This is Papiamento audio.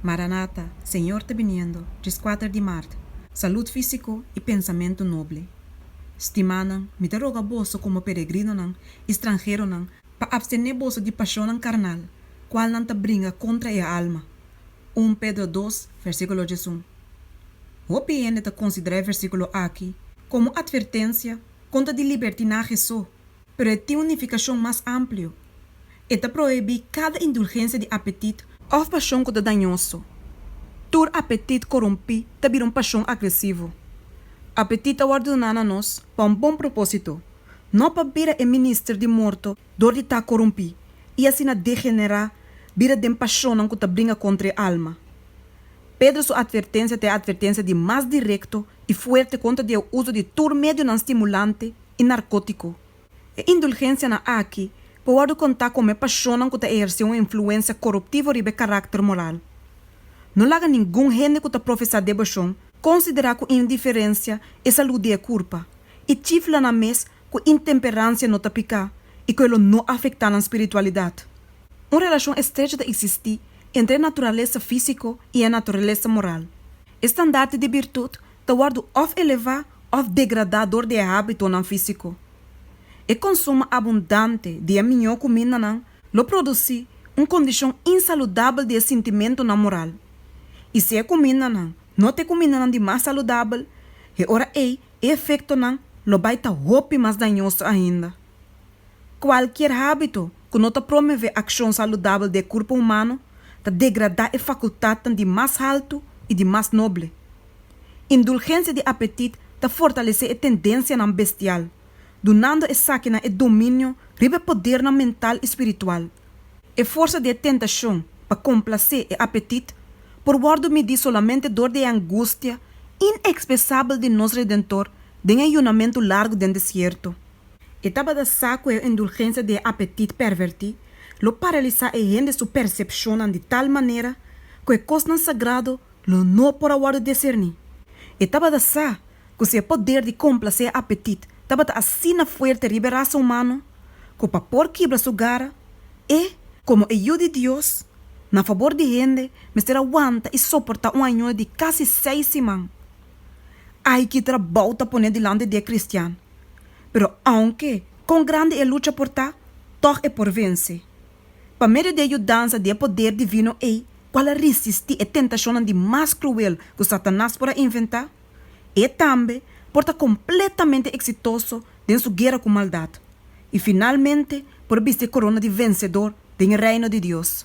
Maranata, Señor ta biniendo, Djiskuater di Maart, Salud físiko i pensamentu noble. Stimánan, mi ta roga boso komo peregrinonan i stranheronan pa apstené boso di pashonnan karnal, kual nan ta bringa kontra e alma. Un Pedro dos, versíkulo diesun. Hopi hende ta konsiderá e versíkulo aki komo atvertensia kontra di libertinahe so Pero e tin un nifikashon mas amplio. E ta prohibí kada indulgensia di apetit, òf pashon ku ta dañoso. Tur apetit korumpí ta bira un pashon agresivo. Apetit ta wòrdu duná na nos pa un bon propósito, no pa bira e minister di morto dor di ta korumpí i asina degenerá bira den pashonnan ku ta bringa kontra e alma. Pedro su atvertensia ta e atvertensia di mas direkto i fuerte kontra di e uso di tur medionan stimulante i narkótiko. E indulgensianan aki por wòrdu kontá komo e pashonnan ku ta ehersé un influensia koruptivo riba e karakter moral. No laga ningun hende ku ta profesá devoshon konsiderá ku indiferensia e salú di e kurpa, i chifla nan mes ku intemperansia no ta piká i ku e lo no afektá nan spiritualidat. Un relashon estrecho ta eksistí entre e naturalesa físiko i e naturalesa moral. E standaard di birtut ta wòrdu òf elevá òf degradá dor di e hábitonan físiko. E konsum abundante di e mió kumindanan lo produsí un kondishon insaludabel di e sintimentunan moral. I si e kumindanan no ta e kumindanan di mas saludabel, e ora ei e efektonan lo bai ta hopi mas dañoso ainda. Kualkier hábito ku no ta promevé akshon saludabel den e kurpo humano ta degradá e fakultatnan di mas haltu i di mas noble. Indulgensia di apetit ta fortalesé e tendensianan bestial, dunando esakinan e dominio riba e podernan mental i spiritual. E forsa di e tentashon pa komplasé e apetit por wòrdu midí solamente dor di e angustia inexpresabel di nos Redentor den e yunamentu largu den desierto. E tabata sa cu e indulgencia di e apetit perverti lo paralisa e hende su percepcionnan di tal manera cu e cosnan sagrado lo no por a wordo decerni. E tabata sa cu si e poder di complace e apetit tabata asina fuerte riba e rasa humano cu pa por kibla su gara, e, como e Yu di Dios, na fabor di hende mester a wanta y soporta un ayuno di casi seis siman. Ay, ki trabou ta pone dilanti di e cristian! Pero ounke kon grandi e lucha por ta, tòg e por vense. Pa medio di e yudansa di e poder divino ei ku al a risistí e tentashonnan di mas kruel ku Satanas por a inventá, e tambe por ta kompletamente eksitoso den su guera ku maldat i finalmente por bisti e korona di vensedor den e Reino di Dios.